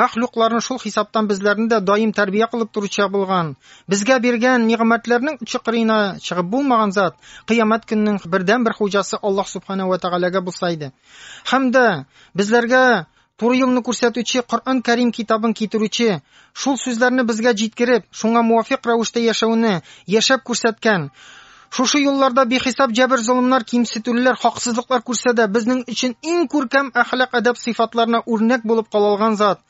Мәхлукларны, шул хисаптан безләрне дә даим тәрбия кылып торучы булган. Безгә биргән нигъмәтләрнең чыкырына чыгып булмаган зат, кыямәт көннең бердән-бер хуҗасы Аллаһ Субхана ва Тәгаләгә булса иде. Һәм дә безләргә туры юлны күрсәтүче Коръән Кәрим китабын китерүче, шул сүзләрне безгә җиткереп, шуңа муафикъ рәвештә яшәүне яшәп күрсәткән, Шушы юлларда бихисап җәбер-золымнар, кимсетүлеләр, хаксызлыклар күрсә дә, безнең өчен иң күркәм әхлак-әдәп сыйфатларына үрнәк булып кала алган зат,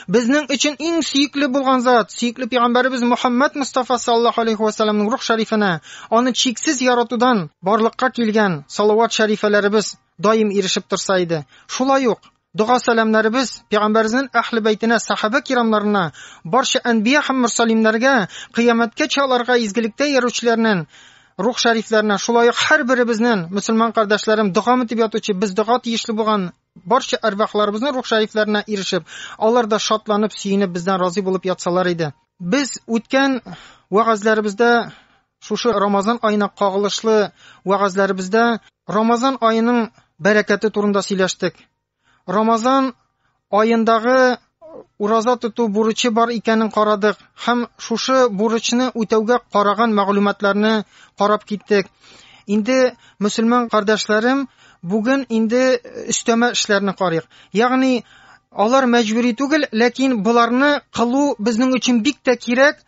безнең өчен иң сөекле булган зат, сөекле пәйгамбәребез Мөхәммәд Мостафа саллаллаһу алейһи ва сәлләмнең рух шәрифенә, аны чиксез яратудан барлыкка килгән салават-шәрифәләребез даим ирешеп торса иде. Шулай ук, Дога сәламнәребез пәйгамбәрнең әһле бәйтенә, сахабә кирамнарына, барча әнбия һәм мөрсәлимнәргә, кыямәткә чаларга изгелектә яручыларның рух шәрифләренә, шулай ук һәр беребезнең мусульман кардәшләрем дога мөтип ятучы, без дога тиешле булган барча арвахларыбызның рух шәрифләренә ирешеп, алар да шатланып, сөенеп бездән разый булып ятсалар иде. Без үткән вагазларыбызда Шушы Рамазан аена кагылышлы вәгазьләребездә Рамазан аеның бәрәкәте турында сөйләштек. Рамазан аендагы ураза тоту бурычы бар икәнен карадык һәм шушы бурычны үтәүгә караган мәгълүматларны карап киттек. Инде мөселман кардәшләрем, бүген инде өстәмә эшләрне карыйк. Ягъни алар мәҗбүри түгел, ләкин боларны кылу безнең өчен бик тә кирәк,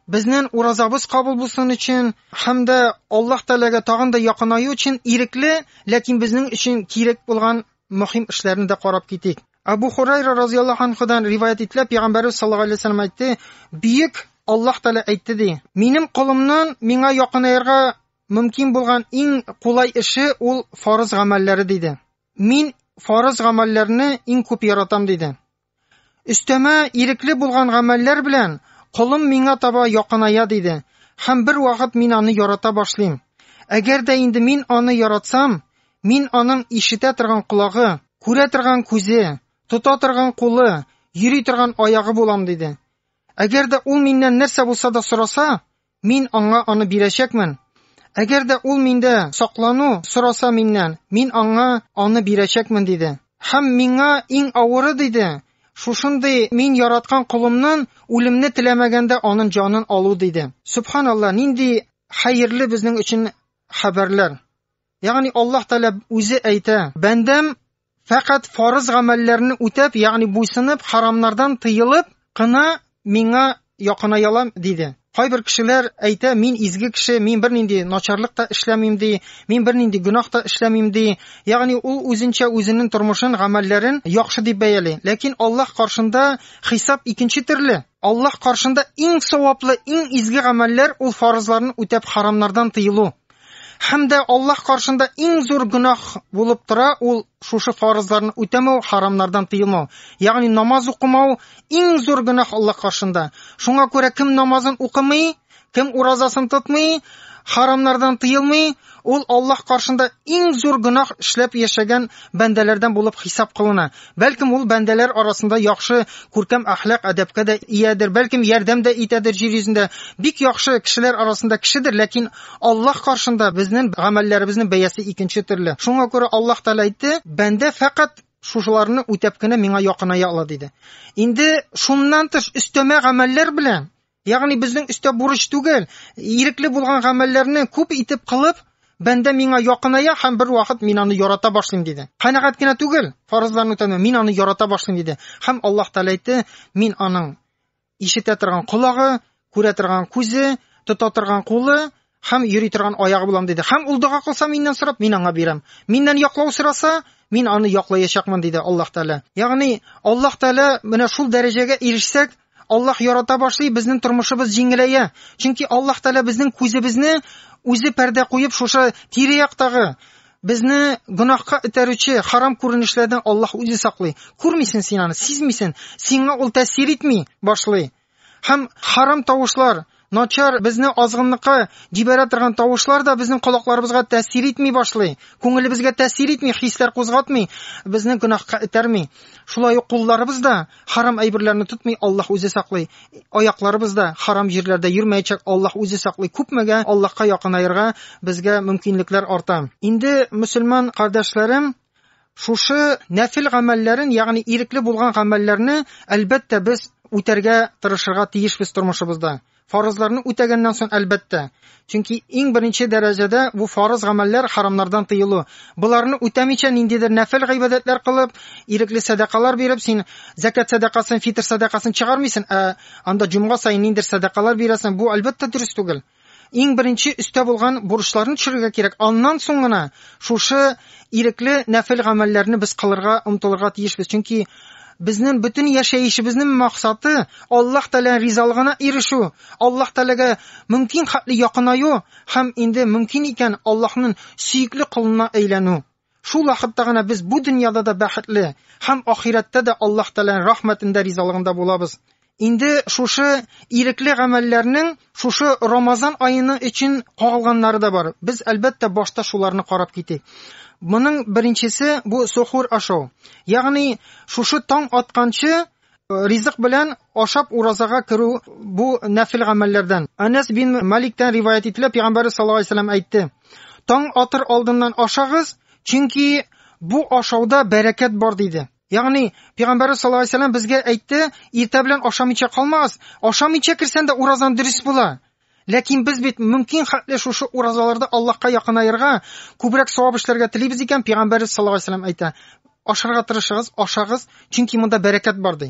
Безнен уразабыз кабул булсын өчен һәм дә Аллаһ Тәгаләгә тагын да якынаю өчен ирекле, ләкин безнең өчен кирәк булган мөһим эшләрне дә карап китик. Абу Хурайра разыяллаһу анхудан риваят ителә, Пәйгамбәрбез саллаллаһу алейһи ва саллям әйтте, Бөек Аллаһ Тәгалә әйтте ди, Минем колымнан миңа якынаерга мөмкин булган иң кулай эше ул фарыз гамәлләре диде. Мин фарыз гамәлләрне иң күп яратам диде. Өстәмә ирекле булган гамәлләр белән колым миңа таба якыная, диде, һәм бервакыт мин аны ярата башлыйм. Әгәр дә инде мин аны яратсам, мин аның ишетә торган колагы, күрә торган күзе, тота торган кулы, йөри торган аягы булам, диде. Әгәр дә ул миннән нәрсә булса да сораса, Мин аңа аны бирәчәкмен. Әгәр дә ул миндә саклану сораса миннән, мин аңа аны бирәчәкмен, диде. Һәм миңа иң авыры, диде, шушындый мин яраткан колымнан үлемне теләмәгәндә анын җанын алу, диде. Сөбханалла, нинди хәерле безнең өчен хәбәрләр! Ягъни Аллаһ Тәгалә үзе әйтә: "Бәндәм фәкать фарыз гамәлләрне үтәп, ягъни буйсынып, харамнардан тыелып кына миңа якынаялар", диде. Кайбер кешеләр әйтә, мин изге кеше, мин бернинди начарлык та эшләмим, ди, мин бернинди гөнаһ та эшләмим, ди. Ягъни ул үзенчә үзенең тормышын, гамәлләрен яхшы дип бәяли. Ләкин Аллаһ каршында хисап икенче төрле. Аллаһ каршында иң саваплы, иң изге гамәлләр ул фарызларны үтәп, харамнардан тыелу. Һәм дә Аллаһ каршында иң зур гөнаһ булып тора ул шушы фарызларны үтәмәү, харамнардан тыелмау. Ягъни намаз укымау иң зур гөнаһ Аллаһ каршында. Шуңа күрә кем намазын укымый, кем уразасын тотмый, харамнардан тыелмый, ул Аллаһ каршында иң зур гөнаһ эшләп яшәгән бәндәләрдән булып хисап кылына. Бәлкем, ул бәндәләр арасында яхшы, күркәм әхлак, әдәпкә дә иядер, бәлкем, ярдәм дә итәдер җир йөзендә. Бик яхшы кешеләр арасында кешедер, ләкин Аллаһ каршында безнең гамәлләребезнең бәясе икенче төрле. Шуңа күрә Аллаһ Тәгалә әйтте, бәндә фәкать шушыларны үтәп кенә миңа якыная ала, диде. Инде шуннан тыш өстәмә гамәлләр белән Ягъни безнең өстә бурыч түгел, ирекле булган гамәлләрне күп итеп кылып, бәндә миңа якыная һәм бер вакыт мин аны ярата башлыйм диде. Канәгать кенә түгел, фарызларны үтәнә, мин аны ярата башлыйм диде. Һәм Аллаһ Тәгалә әйтте, мин аның ишетә торган колагы, күрә торган күзе, тота торган кулы Һәм йөри торган аягы булам, диде. Һәм ул дога кылса миннән сорап, мин аңа бирәм. Миннән яклау сораса, мин аны яклаячакмын, диде Аллаһ Тәгалә. Ягъни, Аллаһ Тәгалә менә шул дәрәҗәгә ирешсәк, Аллаһ ярата башлый, безнең тормышыбыз җиңеләя. Чөнки Аллаһ Тәгалә безнең күзебезне үзе пәрдә куеп, шушы тирә-яктагы безне гөнаһка этәрүче харам күренешләрдән Аллаһ үзе саклый. Күрмисен син аны, сизмисен, сиңа ул тәэсир итми башлый. Һәм харам тавышлар, начар, безне азгынлыкка җибәрә торган тавышлар да безнең колакларыбызга тәэсир итми башлый. Күңелебезгә тәэсир итми, хисләр кузгатмый, безне гөнаһка этәрми. Шулай ук кулларыбыз да харам әйберләрне тотмый, Аллаһ үзе саклый. Аякларыбыз да харам җирләрдә йөрмәячәк, Аллаһ үзе саклый. Күпмегә Аллаһка якынаерга безгә мөмкинлекләр арта. Инде мөселман кардәшләрем, Шушы нәфил гамәлләрен, ягъни ирекле булган гамәлләрне, әлбәттә, без үтәргә тырышырга тиешбез тормышыбызда. Фарызларны үтәгәннән соң, әлбәттә. Чөнки иң беренче дәрәҗәдә бу фарыз гамәлләр харамнардан тыелу. Боларны үтәмичә ниндидер нәфил гыйбадәтләр кылып, ирекле сәдакалар биреп, син закат сәдакасын, фитр сәдакасын чыгармыйсың, ә анда җомга саен ниндидер сәдакалар бирәсең, бу әлбәттә дөрес түгел. Иң беренче өстә булган бурычларны төшерергә кирәк, аннан соң гына шушы ирекле нәфел гамәлләрне без кылырга, омтылырга тиешбез, чөнки безнең бөтен яшәешебезнең максаты Аллаһ Тәгалә ризалыгына ирешү, Аллаһ Тәгаләгә мөмкин хәтле якынаю һәм инде мөмкин икән Аллаһның сөекле колына әйләнү. Шул вакытта гына без бу дөньяда да бәхетле һәм ахирәттә дә Аллаһ Тәгаләнең рәхмәтендә, ризалыгында булабыз. Инде шушы ирекле гамәлләрнең шушы Рамазан аены өчен кагылганнары да бар. Без, әлбәттә, башта шуларны карап китик. Моның беренчесе бу сохур ашау. Ягъни шушы таң атканчы Ризык белән ашап уразага керү бу нәфел гамәлләрдән. Анас бин Маликтән риваять ителә, пәйгамбәрбез саллаллаһу алейһи вәсәлләм әйтте: "Таң атыр алдыннан ашагыз, чөнки бу ашауда бәрәкәт бар", диде. Ягъни, пәйгамбәрбез саллаллаһу алейһи вәсәлләм безгә әйтте, иртә белән ашамыйча калмагыз, ашамыйча керсәң дә уразаң дөрес була. Ләкин без бит мөмкин хәтле шушы уразаларда Аллаһка якынаерга, күбрәк савап эшләргә телибез икән, пәйгамбәребез саллаллаһу алейһи вәсәлләм әйтә, ашарга тырышыгыз, ашагыз, чөнки монда бәрәкәт бар, ди.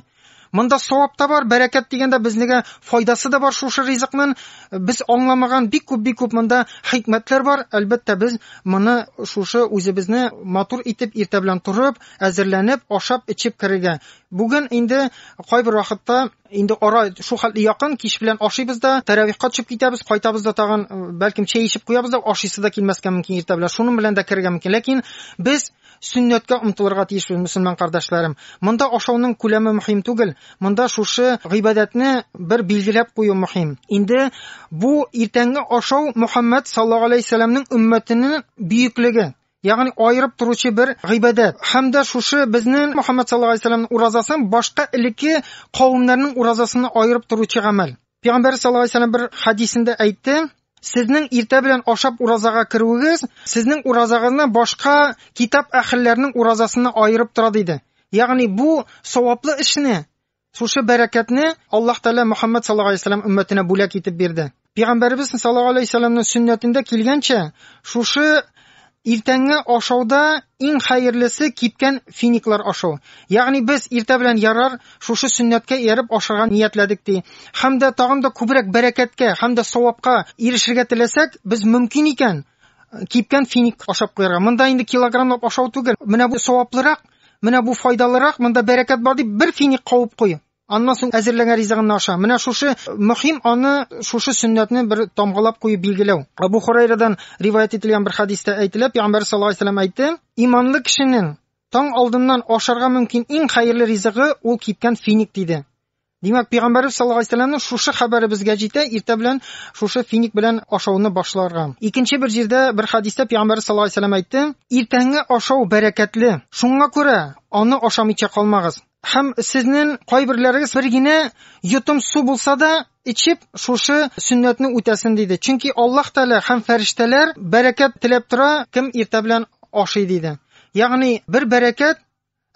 Монда савап та бар, бәрәкәт дигәндә безнегә файдасы да бар шушы ризыкның. Без аңламаган бик күп бик күп монда хикмәтләр бар. Әлбәттә, без моны шушы үзебезне матур итеп иртә белән торып, әзерләнеп, ашап, эчеп керергә. Бүген инде кайбер вакытта Инде ара шул хәтле якын, кич белән ашыйбыз да, тәравихка төшеп китәбез, кайтабыз да тагын, э, бәлкем чәй эчеп куябыз да, ашыйсы да килмәскә мөмкин иртә белән. Шуның белән дә керергә мөмкин. Ләкин без сөннәткә омтылырга тиешбез, мөселман кардәшләрем. Монда ашауның күләме мөһим түгел, монда шушы гыйбадәтне бер билгеләп кую мөһим. Инде бу иртәнге ашау Мөхәммәд саллаллаһу алейһи ва сәлламнең өммәтенең бөеклеге, Ягъни аерып торучы бер гыйбадәт. Һәм дә шушы безнең Мөхәммәд саллаллаһу алейһи вәсәлләмнең уразасын башка элекке кавемнәрнең уразасыннан аерып торучы гамәл. Пәйгамбәр саллаллаһу алейһи вәсәлләм бер хәдисендә әйтте, Сезнең иртә белән ашап уразага керүегез, сезнең уразагызны башка китап әһелләренең уразасыннан аерып тора, диде. Ягъни бу саваплы эшне Шушы бәрәкәтне Аллаһ Тәгалә Мөхәммәд саллаллаһу алейһи ва сәлләм өммәтенә бүләк итеп бирде. Пәйгамбәребез саллаллаһу алейһи ва сәлләмнең сөннәтендә килгәнчә, шушы иртәнге ашауда иң хәерлесе кипкән финиклар ашау. Ягъни без иртә белән ярар шушы сөннәткә ияреп ашарга ниятләдек ди. Һәм дә тагын да күбрәк бәрәкәткә һәм дә савапка ирешергә теләсәк, без мөмкин икән кипкән финик ашап куярга. Монда инде килограммлап ашау түгел, менә бу саваплырак Менә бу файдалырак, монда бәрәкәт бар дип бер финик кавып куй. Аннан соң әзерләнгән ризыгыңны аша. Менә шушы мөһим аны шушы сөннәтне бер тамгалап куеп билгеләү. Абу Хурайрадан риваять ителгән бер хадистә әйтелә, Пәйгамбәр саллаллаһу алейһи вәсәлләм әйтте, иманлы кешенең таң алдыннан ашарга мөмкин иң хәерле ризыгы ул кипкән финик диде. Димәк, пәйгамбәрбез саллаллаһу алейһи вәсәлләмнең шушы хәбәре безгә җитә, иртә белән шушы финик белән ашауны башларга. Икенче бер җирдә, бер хәдистә пәйгамбәрбез саллаллаһу алейһи вәсәлләм әйтте, иртәнге ашау бәрәкәтле, шуңа күрә аны ашамыйча калмагыз. Һәм сезнең кайберләрегез бер генә йотым су булса да эчеп, шушы сөннәтне үтәсен диде. Чөнки Аллаһ Тәгалә һәм фәрештәләр бәрәкәт теләп тора, кем иртә белән ашый диде. Ягъни бер бәрәкәт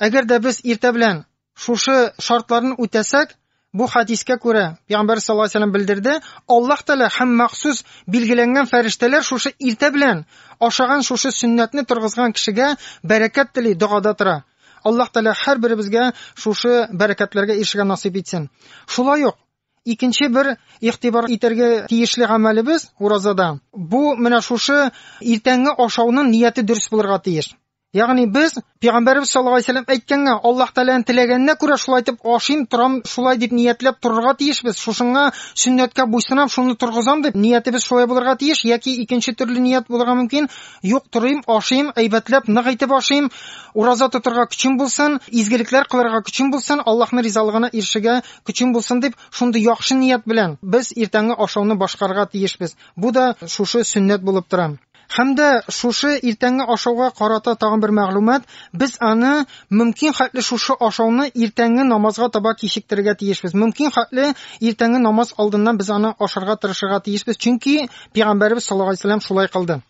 Әгәр дә без иртә белән шушы шартларны үтәсәк, бу хәдискә күрә, пәйгамбәр саллаллаһу алейһи ва сәлләм белдерде, Аллаһ Тәгалә һәм махсус билгеләнгән фәрештәләр шушы иртә белән ашаган шушы сөннәтне торгызган кешегә бәрәкәт тели, догада тора. Аллаһ Тәгалә һәрберебезгә шушы бәрәкәтләргә ирешергә насыйп итсен. Шулай ук икенче бер игътибар итәргә тиешле гамәлебез уразада, бу менә шушы иртәнге ашауның нияте дөрес булырга тиеш. Ягъни без Пәйгамбәрбез саллаллаһу алейһи вәсәлләм әйткәнгә, Аллаһ Тәгаләнең теләгәненә күрә шулай итеп ашыйм, торам, шулай дип ниятләп торырга тиешбез. Шушыңа сөннәткә буйсынам, шуны торгызам дип ниятебез шулай булырга тиеш, яки икенче төрле ният булырга мөмкин. Юк, торыйм, ашыйм, әйбәтләп, нык итеп ашыйм, ураза тотырга көчем булсын, изгелекләр кылырга көчем булсын, Аллаһның ризалыгына ирешергә көчем булсын дип, шундый яхшы ният белән без иртәнге ашауны башкарырга тиешбез. Бу да шушы сөннәт булып тора. Һәм дә шушы иртәнге ашауга карата тагын бер мәгълүмат, без аны мөмкин хәтле шушы ашауны иртәнге намазга таба кичектерергә тиешбез. Мөмкин хәтле иртәнге намаз алдыннан без аны ашарга тырышырга тиешбез, чөнки Пәйгамбәребез саллаллаһу алейһи вәсәлләм шулай кылды.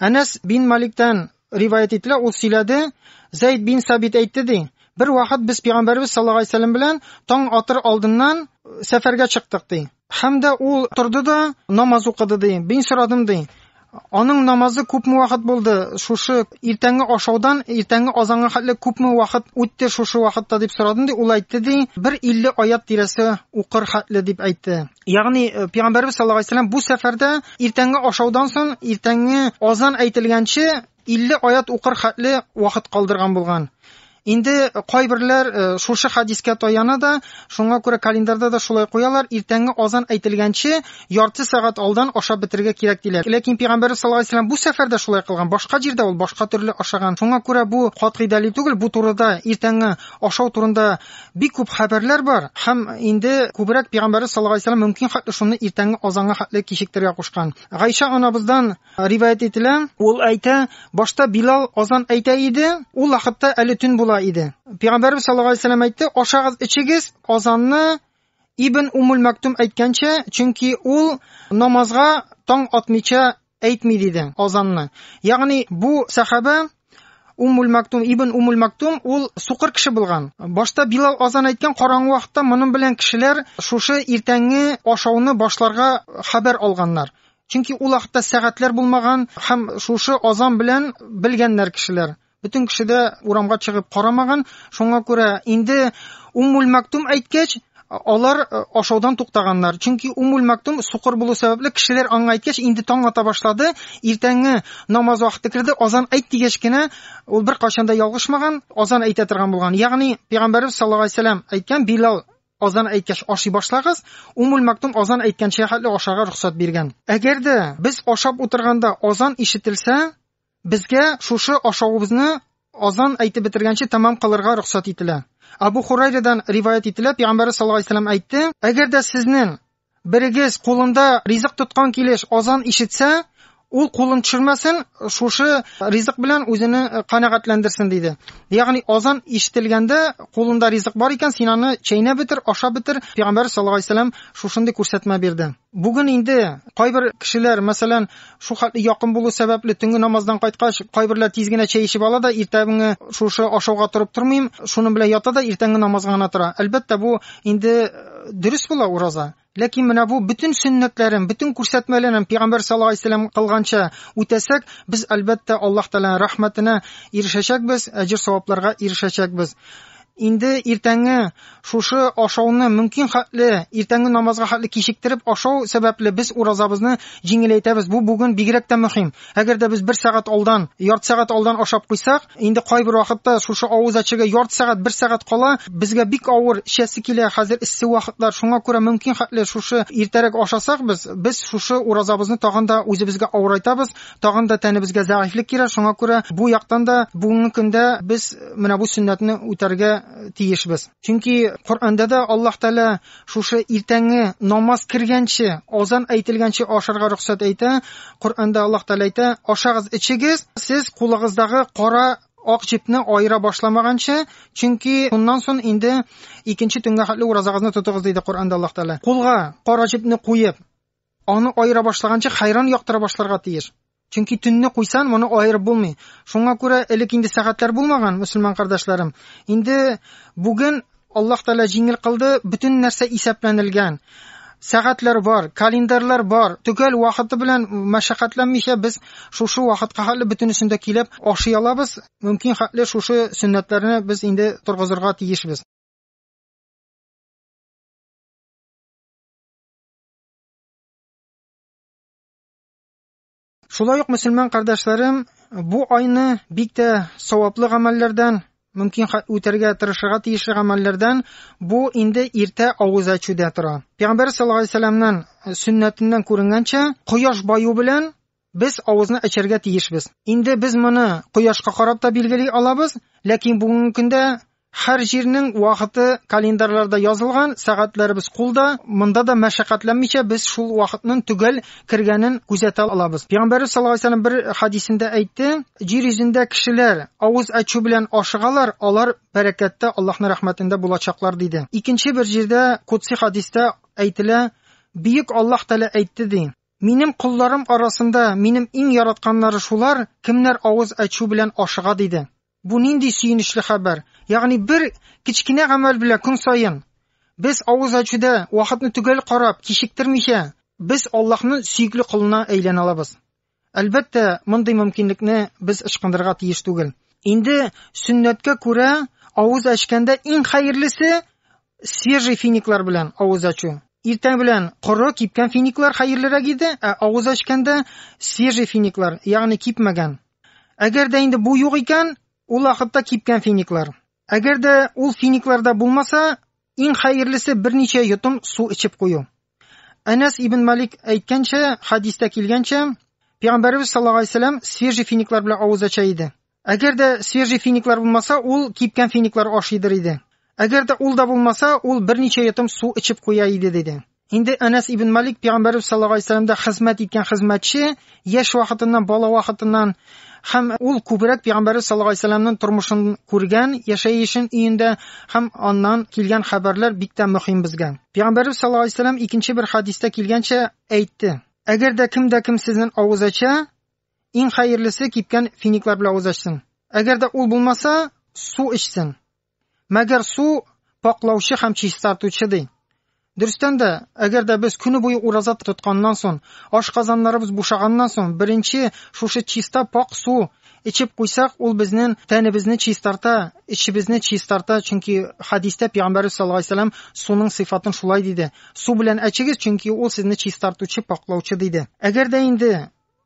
Әнәс бин Маликтән риваять ителә, ул сөйләде, Зәйд бин Сабит әйтте ди, бер вакыт без Пәйгамбәребез саллаллаһу алейһи вәсәлләм белән таң атыр алдыннан сәфәргә чыктык ди. Һәм дә ул торды да намаз укыды ди. Мин сорадым ди. Аның намазы күпме вакыт булды? Шушы иртәнге ашаудан иртәнге азанга хәтле күпме вакыт үтте шушы вакытта дип сорадым ди. Ул әйтте ди, бер 50 аят тирәсе укыр хәтле дип әйтте. Ягъни э, пәйгамбәрбез саллаллаһу алейһи вәсәлләм бу сәфәрдә иртәнге ашаудан соң иртәнге азан әйтелгәнче 50 аят укыр хәтле вакыт калдырган булган. Инде кайберләр э, шушы хадискә таяна да, шуңа күрә календарьда да шулай куялар, иртәнге азан әйтелгәнче ярты сәгать алдан ашап бетергә кирәк диләр. Ләкин пәйгамбәр саллаллаһу алейһи вәсәлләм бу сәфәрдә шулай кылган, башка җирдә ул башка төрле ашаган. Шуңа күрә бу катгый дәлил түгел, бу турыда иртәнге ашау турында бик күп хәбәрләр бар һәм инде күбрәк пәйгамбәр саллаллаһу алейһи вәсәлләм мөмкин хәтле шуны иртәнге азанга хәтле кичектерергә кушкан. Гайша анабыздан Риваять ителә, ул әйтә, башта Билал азан әйтә иде, ул вакытта әле төн була иде. Пәйгамбәрбез саллаллаһу алейһи вәсәлләм әйтте, ашагыз, ичегез, азанны Ибн Умул Мәктум әйткәнчә, чөнки ул намазга таң атмыйча әйтми диде азанны. Ягъни бу сахаба Уммуль-Мактум ибн Уммуль-Мактум ул сукыр кеше булган. Башта Билал азан әйткән караңгы вакытта моның белән кешеләр шушы иртәнге ашауны башларга хәбәр алганнар. Чөнки ул вакытта сәгатьләр булмаган һәм шушы азан белән белгәннәр кешеләр. Бөтен кеше дә урамга чыгып карамаган. Шуңа күрә инде Уммуль-Мактум әйткәч, Алар ашаудан туктаганнар, чөнки Уммуль Мактум сукыр булу сәбәпле, кешеләр аңа әйткәч, инде таң ата башлады, иртәнге намаз вакыты керде, азан әйт дигәч кенә, ул беркайчан да ялгышмаган, азан әйтә торган булган. Ягъни, пәйгамбәребез саллаллаһу алейһи сәлам әйткән, Билал азан әйткәч ашый башлагыз, Уммуль Мактум азан әйткәнчә хәтле ашарга рөхсәт биргән. Әгәр дә без ашап утырганда азан ишетелсә, Безгә шушы ашавыбызны азан әйтеп бетергәнче тәмам кылырга рөхсәт ителә. Абу Хурайрадан риваять ителә, Пәйгамбәр саллаллаһу алейһи ва сәлләм әйтте, Әгәр дә сезнең берегез кулында ризык тоткан килеш азан ишетсә, ул кулын төшермәсен, шушы ризык белән үзене канәгатьләндерсен, диде. Ягъни азан ишетелгәндә, кулында ризык бар икән, син аны чәйнәп бетер, ашап бетер. Пәйгамбәр саллаллаһу алейһи ва сәлләм шушындый күрсәтмә бирде. Бүген инде кайбер кешеләр, мәсәлән, шул хәтле якын булу сәбәпле, төнге намаздан кайткач, кайберләр тиз генә чәй эчеп ала да, иртәнге шушы ашауга торып тормыйм, шуның белән ята да иртәнге намазга гына тора. Әлбәттә, бу инде э, дөрес була ураза. Ләкин менә бу бөтен сөннәтләрен, бөтен күрсәтмәләрен пәйгамбәр саллаллаһу алейһи вәсәлләм кылганча үтәсәк, без әлбәттә Аллаһ Тәгаләнең рәхмәтенә ирешәчәкбез, әҗер-савапларга ирешәчәкбез. Инде иртәнге шушы ашауны мөмкин хәтле иртәнге намазга хәтле кичектереп ашау сәбәпле без уразабызны җиңеләйтәбез. Бу бүген бигрәк тә мөһим. Әгәр дә без бер сәгать алдан, ярты сәгать алдан ашап куйсак, инде кайбер вакытта шушы авыз әчергә ярты сәгать, бер сәгать кала, безгә бик авыр эчәсе килә, хәзер эссе вакытлар, шуңа күрә мөмкин хәтле шушы иртәрәк ашасак без, без шушы уразабызны тагын да үзебезгә авырайтабыз, Тагын да тәнебезгә зәгыйфьлек керә, шуңа күрә бу яктан да бүгенге көндә без менә бу сөннәтне үтәргә тиешбез. Чөнки Коръәндә дә Аллаһ Тәгалә шушы иртәнге намаз кергәнче, азан әйтелгәнче ашарга рөхсәт әйтә. Коръәндә Аллаһ Тәгалә әйтә, ашагыз, ичегез, сез кулыгыздагы кара ак җепне аера башламаганчы, чөнки шуннан сон инде икенче төнгә хәтле уразагызны тотыгыз, диде Коръәндә Аллаһ Тәгалә. Кулга кара җепне куеп, Аны аера башлаганчы хәйран яктыра башларга тиеш. Чөнки төнне куйсан, моны аерып булмый. Шуңа күрә элек инде сәгатьләр булмаган, мөселман кардәшләрем. Инде бүген Аллаһ Тәгалә җиңел кылды, бөтен нәрсә исәпләнелгән. Сәгатьләр бар, календарьлар бар. Төгәл вакыты белән мәшәкатьләнмичә без шушы вакытка хәтле бөтенесен дә килеп ашый алабыз. Мөмкин хәтле шушы сөннәтләрне без инде торгызырга тиешбез. Шулай ук мөселман кардәшләрем, бу айны бик тә саваплы гамәлләрдән, мөмкин үтәргә тырышырга тиешле гамәлләрдән бу инде иртә авыз ачуда тора. Пәйгамбәр саллаллаһу алейһи вәсәлламнан э, сөннәтеннән күренгәнчә, кояш баю белән Без авызны ачарга тиешбез. Инде без моны кояшка карап та билгели алабыз, ләкин бүгенге көндә һәр җирнең вакыты календарьларда язылган, сәгатьләребез кулда, монда да мәшәкатьләнмичә без шул вакытның төгәл кергәнен күзәтә алабыз. Пәйгамбәребез саллаллаһу алейһи ва сәлләм бер хәдисендә әйтте, Җир йөзендә кешеләр авыз ачу белән ашыгалар, алар бәрәкәттә, Аллаһның рәхмәтендә булачаклар, диде. Икенче бер җирдә, кудси хәдистә әйтелә, Бөек Аллаһ Тәгалә әйтте, ди, Минем колларым арасында минем иң яратканнары шулар, кемнәр авыз ачу белән ашыга, диде. Бу нинди сөенечле хәбәр! Ягъни бер кечкенә гамәл белән көн саен без авыз ачуда вакытны төгәл карап, кичектермичә, без Аллаһның сөекле колына әйләнә алабыз. Әлбәттә, мондый мөмкинлекне без ычкындырырга тиеш түгел. Инде сөннәткә күрә, авыз ачканда иң хәерлесе Свежий финиклар белән авыз ачу. Иртән белән коры, кипкән финиклар хәерлерәк иде, ә авыз ачканда свежий финиклар, ягъни кипмәгән. Әгәр дә инде бу юк икән, ул вакытта кипкән финиклар. Әгәр дә ул финикларда булмаса, иң хәерлесе берничә йотым су эчеп кую. Әнәс ибн Малик әйткәнчә, хадистә килгәнчә, Пәйгамбәребез саллаллаһу алейһи свежий финиклар белән авыз ача иде. Әгәр дә свежий финиклар булмаса, ул кипкән финиклар ашыйдыр иде. Әгәр дә ул да булмаса, ул берничә йотым су эчеп куя иде, диде. Инде Әнәс ибн Малик пәйгамбәрбез саллаллаһу алейһи вәсәләмдә хезмәт иткән хезмәтче, яшь вакытыннан, бала вакытыннан һәм ул күбрәк пәйгамбәрбез саллаллаһу алейһи вәсәләмнең тормышын күргән, яшәешен өендә һәм аннан килгән хәбәрләр бик тә мөһим безгә. Пәйгамбәрбез саллаллаһу алейһи вәсәләм икенче бер хадистә килгәнчә әйтте: Әгәр дә кем дә кем сезнең авыз ача, Иң хәерлесе кипкән финиклар белән авыз ачсын. Әгәр дә ул булмаса, су эчсен. Мәгәр су паклаучы һәм чистартучы ди. Дөрестән дә, әгәр дә без көне буе ураза тотканнан соң, ашказаннарыбыз бушаганнан соң, беренче шушы чиста пак су эчеп куйсак, ул безнең тәнебезне чистарта, эчебезне чистарта, чөнки хадистә пәйгамбәрбез саллаллаһу алейһи вәсәлләм суның сыйфатын шулай диде. Су белән әчегез, чөнки ул сезне чистартучы, паклаучы диде. Әгәр дә инде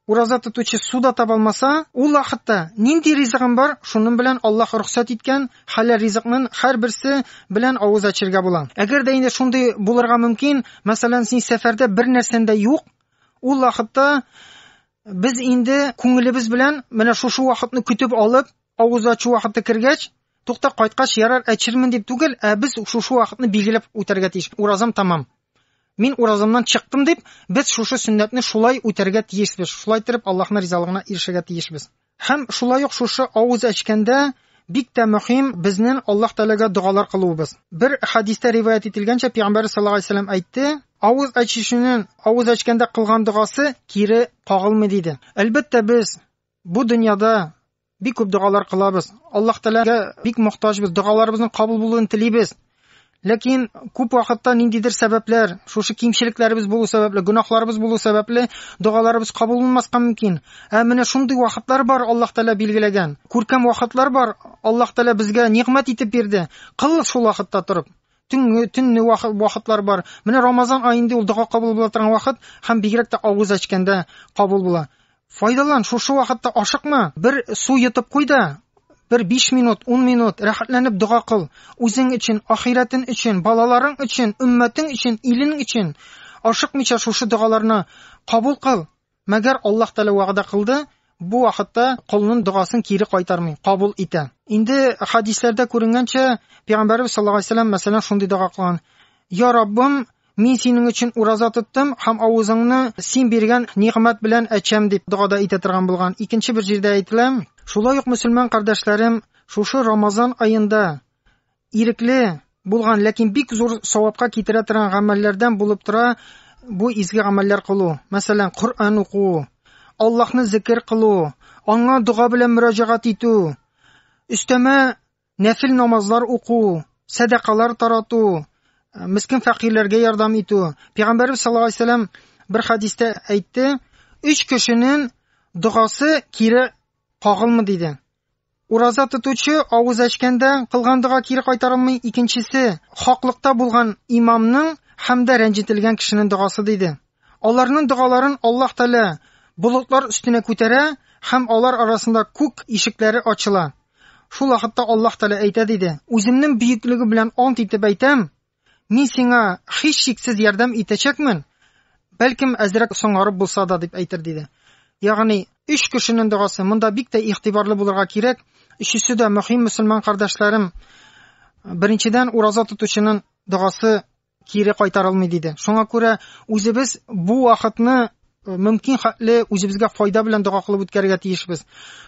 Ураза тотучы су да таба алмаса, ул вакытта нинди ризыгым бар, шуның белән Аллаһ рөхсәт иткән хәләл ризыкның һәрберсе белән авыз ачырга була. Әгәр дә инде шундый булырга мөмкин, мәсәлән, син сәфәрдә бер нәрсәң дә юк, ул вакытта без инде күңелебез белән менә шушы вакытны көтеп алып, авыз ачу вакыты кергәч, тукта кайткач ярар әчермен дип түгел, ә без шушы вакытны билгеләп үтәргә тиеш. Уразам тәмам. Мин уразамнан чыктым дип, без шушы сөннәтне шулай үтәргә тиешбез, шулай иттереп Аллаһның ризалыгына ирешергә тиешбез. Һәм шулай ук шушы авыз әчкәндә бик тә мөһим безнен Аллаһ Тәгаләгә догалар кылуыбыз. Бер хәдистә риваять ителгәнчә, Пәйгамбәрбез саллаллаһу галәйһи сәләм әйтте, Авыз әчүченен авыз әчкәндә кылган догасы кире кагылмый, диде. Әлбәттә, без бу дөньяда Бик күп догалар кылабыз. Аллаһ Тәгаләгә бик мохтаҗбыз, догаларыбызның кабул булуын телибез. Ләкин күп вакытта ниндидер сәбәпләр, шушы кимчелекләребез булу сәбәпле, гөнаһларыбыз булу сәбәпле догаларыбыз кабул булмаска мөмкин. Ә менә шундый вакытлар бар, Аллаһ Тәгалә билгеләгән. Күркәм вакытлар бар, Аллаһ Тәгалә безгә нигъмәт итеп бирде. Кыл шул вакытта торып. төнге төнне вакытлар бар. Менә Рамазан ай инде ул дога кабул була торган вакыт һәм бигрәк тә авыз ачканда кабул була. Файдалан, шушы вакытта ашыкма, бер су йотып куй да, бер 5 минут, 10 минут рәхәтләнеп дога кыл. Үзең өчен, ахирәтең өчен, балаларың өчен, өммәтең өчен, илең өчен ашыкмыйча шушы догаларны кабул кыл. Мәгәр Аллаһ Тәгалә вәгъдә кылды, бу вакытта колның догасын кире кайтармый, кабул итә. Инде хәдисләрдә күренгәнчә, Пәйгамбәребез саллаллаһу алейһи ва сәлләм, мәсәлән, шундый дога кылган, Я Раббым, мин синең өчен ураза тоттым һәм авызыңны син биргән нигъмәт белән әчәм, дип дога да әйтә торган булган. Икенче бер җирдә әйтелә. Шулай ук, мөселман кардәшләрем, шушы Рамазан аенда ирекле булган, ләкин бик зур савапка китерә торган гамәлләрдән булып тора бу изге гамәлләр кылу. Мәсәлән, Коръән уку, Аллаһны зикр кылу, аңа дога белән мөрәҗәгать итү, өстәмә нәфил намазлар уку, сәдакалар тарату, э, мискин фәкыйрьләргә ярдәм итү. Пәйгамбәрбез саллаллаһу алейһи вәсәлләм бер хәдистә әйтте, үч кешенең догасы кире кагылмый диде. Ураза тотучы авыз ачкәндә кылган дога кире кайтарылмый, икенчесе, хаклыкта булган имамның һәм дә рәнҗетелгән кешенең догасы, диде. Аларның догаларын Аллаһ Тәгалә болытлар өстенә күтәрә һәм алар арасында күк ишекләре ачыла. Шул вакытта Аллаһ Тәгалә әйтә, диде, Үземнең бөеклеге белән ант итеп әйтәм, Мин сиңа һичшиксез ярдәм итәчәкмен, бәлкем әзрәк соңарып булса да, дип әйтер, диде. Ягъни, өч кешенең догасы, монда бик тә игътибарлы булырга кирәк, өчесе дә мөһим мөселман кардәшләрем. Беренчедән, ураза тотучының догасы кире кайтарылмый, диде. Шуңа күрә үзебез бу вакытны Э, мөмкин хәтле үзебезгә файда белән дога кылып үткәрергә тиешбез.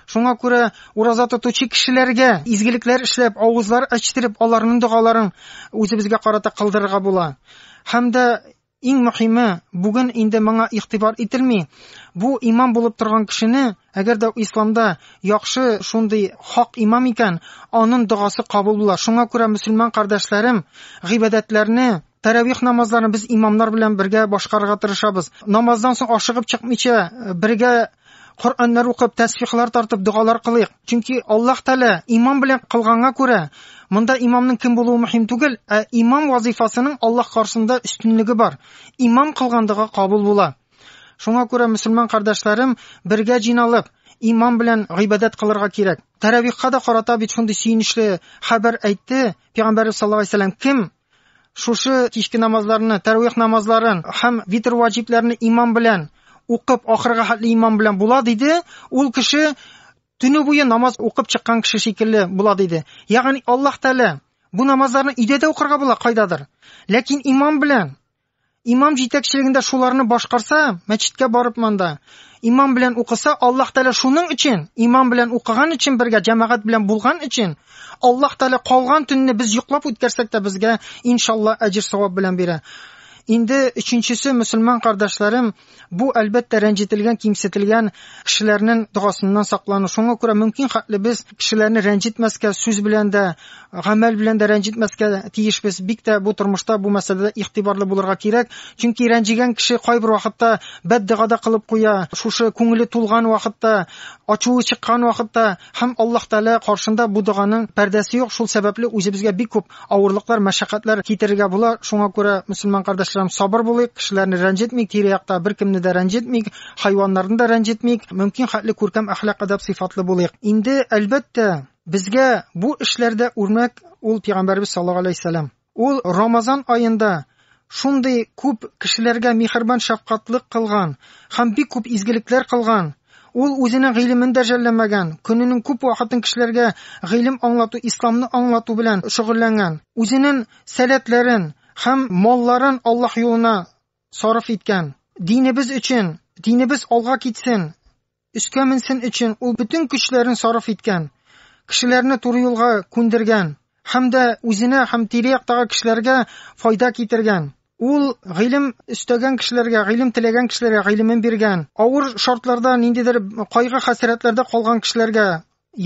Шуңа күрә ураза тотучы кешеләргә изгелекләр эшләп, авызлар ачтырып, аларның догаларын үзебезгә карата кылдырырга була. Һәм дә иң мөһиме, бүген инде моңа игътибар ителми, бу имам булып торган кешене, әгәр дә исламда яхшы шундый хак имам икән, аның догасы кабул була. Шуңа күрә мөселман кардәшләрем гыйбадәтләрне Тәравих намазларын без имамнар белән бергә башкарырга тырышабыз. Намаздан соң ашыгып чыкмыйча бергә Коръәннәр укып, тәсбихлар тартып, догалар кылыйк. Чөнки Аллаһ Тәгалә имам белән кылганга күрә, монда имамның кем булуы мөһим түгел, ә имам вазифасының Аллаһ каршында өстенлеге бар. Имам кылган дога кабул була. Шуңа күрә мөселман кардәшләрем бергә җыйналып, имам белән гыйбадәт кылырга кирәк. Тәравихка да карата бит шундый сөенечле хәбәр әйтте, Пәйгамбәрбез саллаллаһу алейһи ва кем Шушы кичке намазларны, тәрвих намазларын һәм витр ваҗибләрне имам белән укып, ахырга хәтле имам белән була диде. Ул кеше төне буе намаз укып чыккан кеше шикелле була диде. Ягъни Аллаһ Тәгалә бу намазларны өйдә дә укырга була кайдадыр. Ләкин имам белән Имам җитәкчелегендә шуларны башкарса, мәчеткә барып монда имам белән укыса, Аллаһ Тәгалә шуның өчен, имам белән укыган өчен бергә җәмәгать белән булган өчен, Аллаһ Тәгалә калган төнне без йоклап үткәрсәк тә безгә иншалла әҗер савап белән бирә. Инде өченчесе мөселман кардәшләрем, Бу, әлбәттә, рәнҗетелгән, кимсетелгән кешеләрнең догасыннан саклану. Шуңа күрә мөмкин хәтле без кешеләрне рәнҗетмәскә, сүз белән дә, гамәл белән дә рәнҗетмәскә тиешбез. Бик тә бу тормышта бу мәсьәләдә игътибарлы булырга кирәк. Чөнки рәнҗегән кеше кайбер вакытта бәддога да кылып куя. Шушы күңеле тулган вакытта, ачуы чыккан вакытта Һәм Аллаһ Тәгалә каршында бу доганың пәрдәсе юк, шул сәбәпле үзебезгә бик күп авырлыклар, мәшәкатьләр китерергә була. Шуңа күрә, мөселман кардәшләрем, сабыр булыйк, кешеләрне рәнҗетмик, тирә-якта беркемне дә рәнҗетмик, хайваннарны да рәнҗетмик, мөмкин хәтле күркәм әхлак-әдәп сыйфатлы булыйк. Инде, әлбәттә, безгә бу эшләрдә үрнәк ул Пәйгамбәребез саллаллаһу галәйһи ва сәлләм. Ул Рамазан аенда шундый күп кешеләргә миһербан-шәфкатьлек кылган һәм бик күп изгелекләр кылган, ул үзенең гыйлемен дә жәлләмәгән, көненең күп вакытын кешеләргә гыйлем аңлату, исламны аңлату белән шөгыльләнгән, үзенен сәләтләрен һәм малларын Аллаһ юлына сарыф иткән. Динебез өчен, динебез алга китсен! Өскә менсен өчен ул бөтен көчләрен сарыф иткән, кешеләрне туры юлга күндергән һәм дә үзенә һәм тирә-яктагы кешеләргә файда китергән. Ул гыйлем өстәгән кешеләргә, гыйлем теләгән кешеләргә гыйлемен биргән, авыр шартларда, ниндидер кайгы-хәсрәтләрдә калган кешеләргә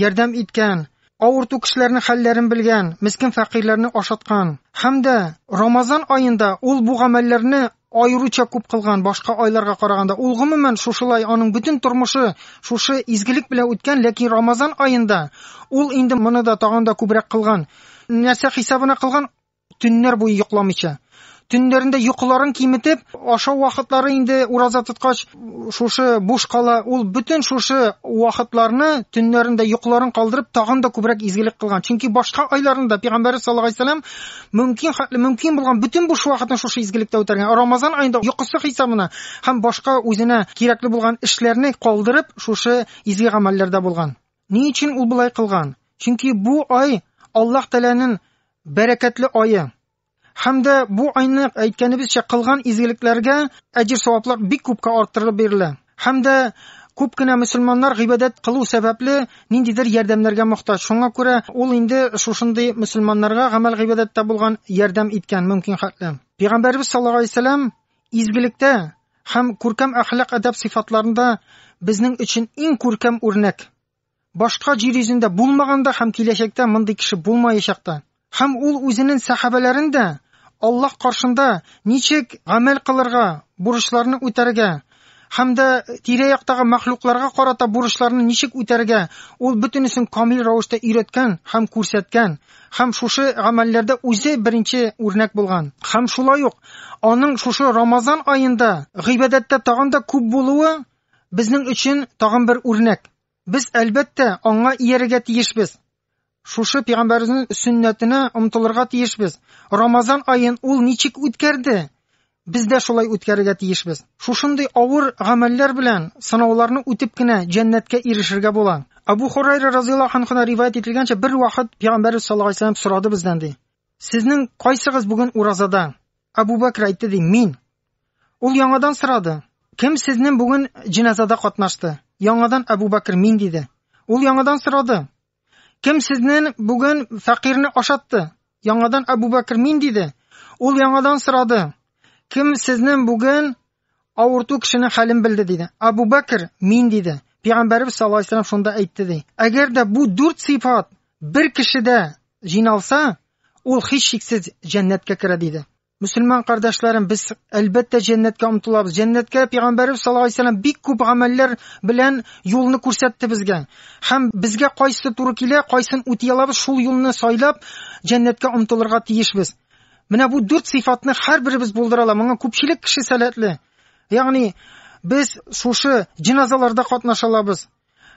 ярдәм иткән, авырту кешеләрнең хәлләрен белгән, мескен фәкыйрьләрне ашаткан. Һәм дә Рамазан аенда ул бу гамәлләрне аеруча күп кылган, башка айларга караганда. Ул гомумән шушылай, аның бөтен тормышы шушы изгелек белән үткән, ләкин Рамазан аенда ул инде моны да тагын да күбрәк кылган. Нәрсә хисабына кылган? Төннәр буе йокламыйча, төннәрендә йокыларын киметеп, ашау вакытлары инде ураза тоткач шушы буш кала, ул бөтен шушы вакытларны төннәрендә йокыларын калдырып, тагын да күбрәк изгелек кылган. Чөнки башка айларында пәйгамбәребез саллаллаһу алейһи вәсәлләм мөмкин хәтле мөмкин булган бөтен буш вакытын шушы изгелектә үтәргән. Рамазан аенда йокысы хисабына һәм башка үзенә кирәкле булган эшләрне калдырып, шушы изге гамәлләрдә булган. Ни өчен ул болай кылган? Чөнки бу ай Аллаһ Тәгаләнең бәрәкәтле айы. Һәм дә бу айны әйткәнебезчә кылган изгелекләргә әҗер саваплар бик күпкә арттырылып бирелә. Һәм дә күп кенә мөселманнар гыйбадәт кылу сәбәпле ниндидер ярдәмнәргә мохтаҗ. Шуңа күрә ул инде шушындый мөселманнарга гамәл гыйбадәттә булган ярдәм иткән мөмкин хәтле. Пәйгамбәребез саллаллаһу алейһи вәсәлләм Изгелектә һәм күркәм әхлак-әдәп сыйфатларында безнең өчен иң күркәм үрнәк. Башка җир йөзендә булмаган да һәм киләчәктә мондый кеше булмаячак та. Һәм ул үзенең сәхабәләрен дә Аллаһ каршында ничек гамәл кылырга, бурычларны үтәргә, һәм дә тирә-яктагы мәхлукларга карата бурычларны ничек үтәргә, ул бөтенесен камил рәвештә өйрәткән һәм күрсәткән, һәм шушы гамәлләрдә үзе беренче үрнәк булган. Һәм шулай ук аның шушы Рамазан аенда гыйбадәттә тагын да күп булуы безнең өчен тагын бер үрнәк. Без, әлбәттә, аңа иярергә тиешбез. Шушы пәйгамбәрнең сөннәтенә омтылырга тиешбез. Рамазан аен ул ничек үткәрде? Без дә шулай үткәрергә тиешбез. Шушындый авыр гамәлләр белән сынауларны үтеп кенә җәннәткә ирешергә була. Абу Хурайра разыйаллаһу анхудан риваять ителгәнчә, бер вакыт пәйгамбәрбез саллаллаһу алейһи ва сорады бездән ди. Сезнең кайсыгыз бүген уразада? Абу Бәкер әйтте ди, мин. Ул яңадан сорады, Кем сезнен бүген җеназада катнашты? Яңадан Әбу Бәкер мин диде. Ул яңадан сорады, Кем сезнен бүген фәкыйрьне ашатты? Яңадан Әбу Бәкер мин диде. Ул яңадан сорады, Кем сезнен бүген авырту кешенең хәлен белде диде. Әбу Бәкер мин диде. Пәйгамбәрбез саллаллаһу алейһи вәсәлләм шунда әйтте ди. Әгәр дә бу дүрт сыйфат бер кешедә җыйналса, ул һичшиксез җәннәткә керә диде. Мөселман кардәшләрем, без әлбәттә җәннәткә омтылабыз. Җәннәткә пәйгамбәребез саллаллаһу алейһи вәсәлләм бик күп гамәлләр белән юлны күрсәтте безгә. Һәм безгә кайсы туры килә, кайсын үти алабыз, шул юлны сайлап җәннәткә омтылырга тиешбез. Менә бу дүрт сыйфатны һәрберебез булдыра ала. Моңа күпчелек кеше сәләтле. Ягъни без шушы җеназаларда катнаша алабыз.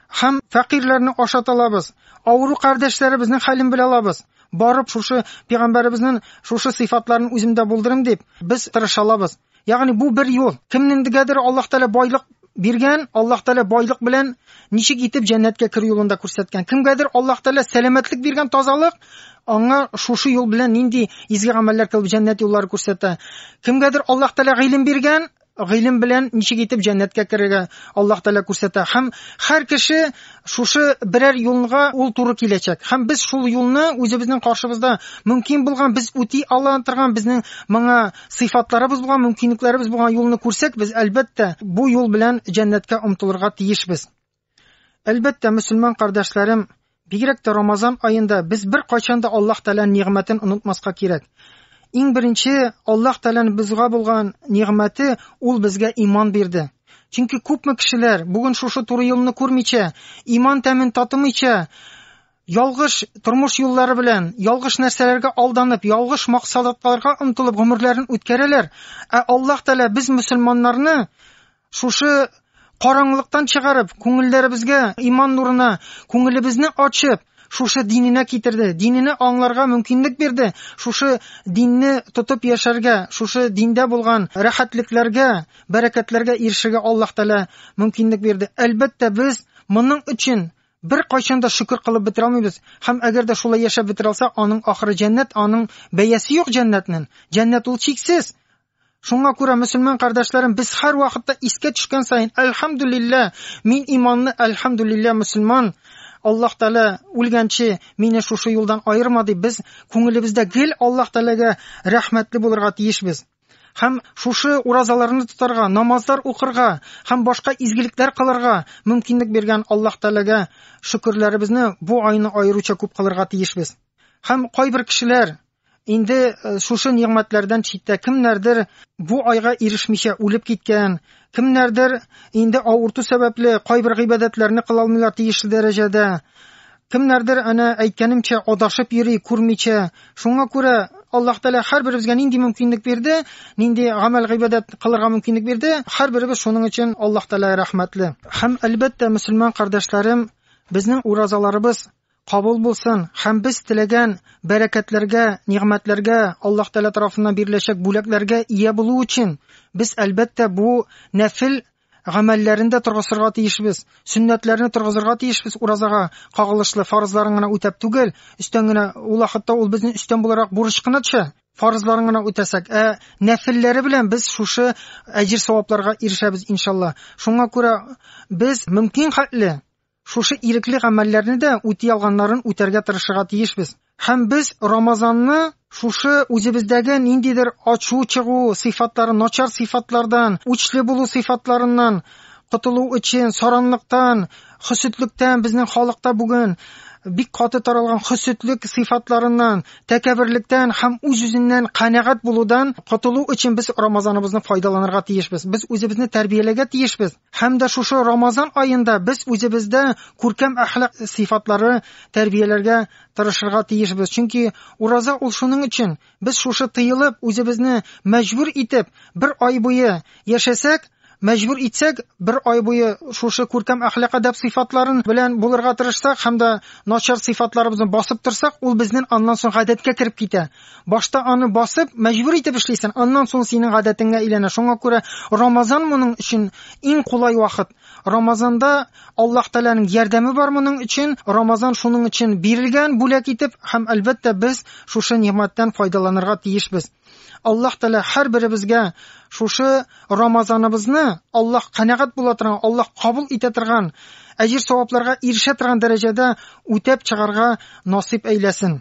Һәм фәкыйрьләрне ашат алабыз. Авыру кардәшләребезнең хәлен белә алабыз. Барып шушы пәйгамбәребезнең шушы сыйфатларын үземдә булдырым дип, без тырыша алабыз. Ягъни бу бер юл. Кемнеңдегәдер Аллаһ Тәгалә байлык биргән, Аллаһ Тәгалә байлык белән ничек итеп җәннәткә керү юлын да күрсәткән. Кемгәдер Аллаһ Тәгалә сәламәтлек биргән, тазалык, аңа шушы юл белән нинди изге гамәлләр кылып җәннәт юллары күрсәтә. Кемгәдер Аллаһ Тәгалә гыйлем биргән, Гыйлем белән ничек итеп җәннәткә керергә Аллаһ Тәгалә күрсәтә. Һәм һәр кеше шушы берәр юлга ул туры киләчәк. Һәм без шул юлны үзебезнең каршыбызда мөмкин булган, без үти ала торган, безнең моңа сыйфатларыбыз булган, мөмкинлекләребез булган юлны күрсәк, без, әлбәттә, бу юл белән җәннәткә омтылырга тиешбез. Әлбәттә, мөселман кардәшләрем, бигрәк тә Рамазан аенда без бер кайчан да Аллаһ Тәгаләнең нигъмәтен онытмаска кирәк. Иң беренче Аллаһ Тәгаләнең безгә булган нигъмәте ул безгә иман бирде. Чөнки күпме кешеләр бүген шушы туры юлны күрмичә, иман тәмен татымыйча, ялгыш тормыш юллары белән, ялгыш нәрсәләргә алданып, ялгыш максатларга омтылып гомерләрен үткәрәләр. Ә Аллаһ Тәгалә без мөселманнарны Шушы караңгылыктан чыгарып, күңелләребезгә иман нурына, күңелебезне ачып, шушы диненә китерде, динене аңларга мөмкинлек бирде, шушы динне тотып яшәргә, шушы диндә булган рәхәтлекләргә, бәрәкәтләргә ирешергә Аллаһ Тәгалә мөмкинлек бирде. Әлбәттә, без моның өчен бер кайчан да шөкер кылып бетерә алмыйбыз. Һәм әгәр дә шулай яшәп бетерә алса, аның ахыры җәннәт, аның бәясе юк җәннәтнең. Җәннәт ул чиксез. Шуңа күрә, мөселман кардәшләрем, без һәрвакытта искә төшкән саен, әлхәмдүлиллә, мин иманлы, әлхәмдүлиллә, мөселман, Аллаһ Тәгалә үлгәнче мине шушы юлдан аерма дип, без күңелебездә гел Аллаһ Тәгаләгә рәхмәтле булырга тиешбез. Һәм шушы уразаларны тотарга, намазлар укырга һәм башка изгелекләр кылырга мөмкинлек биргән Аллаһ Тәгаләгә шөкерләребезне бу айны аеруча күп кылырга тиешбез. Һәм кайбер кешеләр Инде э, шушы нигъмәтләрдән читтә кемнәрдер бу айга ирешмичә үлеп киткән, кемнәрдер инде авырту сәбәпле кайбер гыйбадәтләрне кыла алмыйлар тиешле дәрәҗәдә. Кемнәрдер әнә әйткәнемчә адашып йөри, күрмичә. Шуңа күрә Аллаһ Тәгалә һәрберебезгә нинди мөмкинлек бирде, нинди гамәл гыйбадәт кылырга мөмкинлек бирде, һәрберебез шуның өчен Аллаһ Тәгаләгә рәхмәтле. Һәм әлбәттә, мөселман кардәшләрем, безнең уразаларыбыз Кабул булсын һәм без теләгән бәрәкәтләргә, нигъмәтләргә, Аллаһ Тәгалә тарафыннан биреләчәк бүләкләргә ия булу өчен, без, әлбәттә, бу нәфел гамәлләрен дә торгызырга тиешбез, сөннәтләрне торгызырга тиешбез уразага кагылышлы фарызларын гына үтәп түгел, өстән генә, ул вакытта ул безнең өстән буларак бурыч кына төшә, фарызларын гына үтәсәк, ә нәфелләре белән без шушы әҗер-савапларга ирешәбез, иншалла. Шуңа күрә без мөмкин хәтле Шушы ирекле гамәлләрне дә үти алганнарын үтәргә тырышырга тиешбез. Һәм без Рамазанны шушы үзебездәге ниндидер ачу чыгу сыйфатлары, начар сыйфатлардан, үчле булу сыйфатларыннан котылу өчен, саранлыктан, хөсетлектән, безнең халыкта бүген бик каты таралган хөсетлек сыйфатларыннан, тәкәберлектән һәм үз-үзеннән канәгать булудан котылу өчен без Рамазаныбызны файдаланырга тиешбез. Без үзебезне тәрбияләргә тиешбез. Һәм дә шушы Рамазан аенда без үзебездә күркәм әхлак сыйфатлары тәрбияләргә тырышырга тиешбез. Чөнки ураза ул шуның өчен. Без шушы тыелып, үзебезне мәҗбүр итеп, бер ай буе яшәсәк, мәҗбүр итсәк, бер ай буе шушы күркәм әхлак әдәп сыйфатларын белән булырга тырышсак һәм дә начар сыйфатларыбызны басып торсак, ул безнең аннан соң гадәткә кереп китә. Башта аны басып, мәҗбүр итеп эшлисен, аннан соң синең гадәтеңә әйләнә. Шуңа күрә Рамазан моның өчен иң кулай вакыт. Рамазанда Аллаһ Тәгаләнең ярдәме бар моның өчен. Рамазан шуның өчен бирелгән бүләк итеп, һәм әлбәттә без шушы нигъмәттән файдаланырга тиешбез. Аллаһ Тәгалә һәрберебезгә шушы Рамазаныбызны Аллаһ канәгать була торган, Аллаһ кабул итә торган, әҗер-савапларга ирешә торган дәрәҗәдә үтәп чыгарга насыйп әйләсен.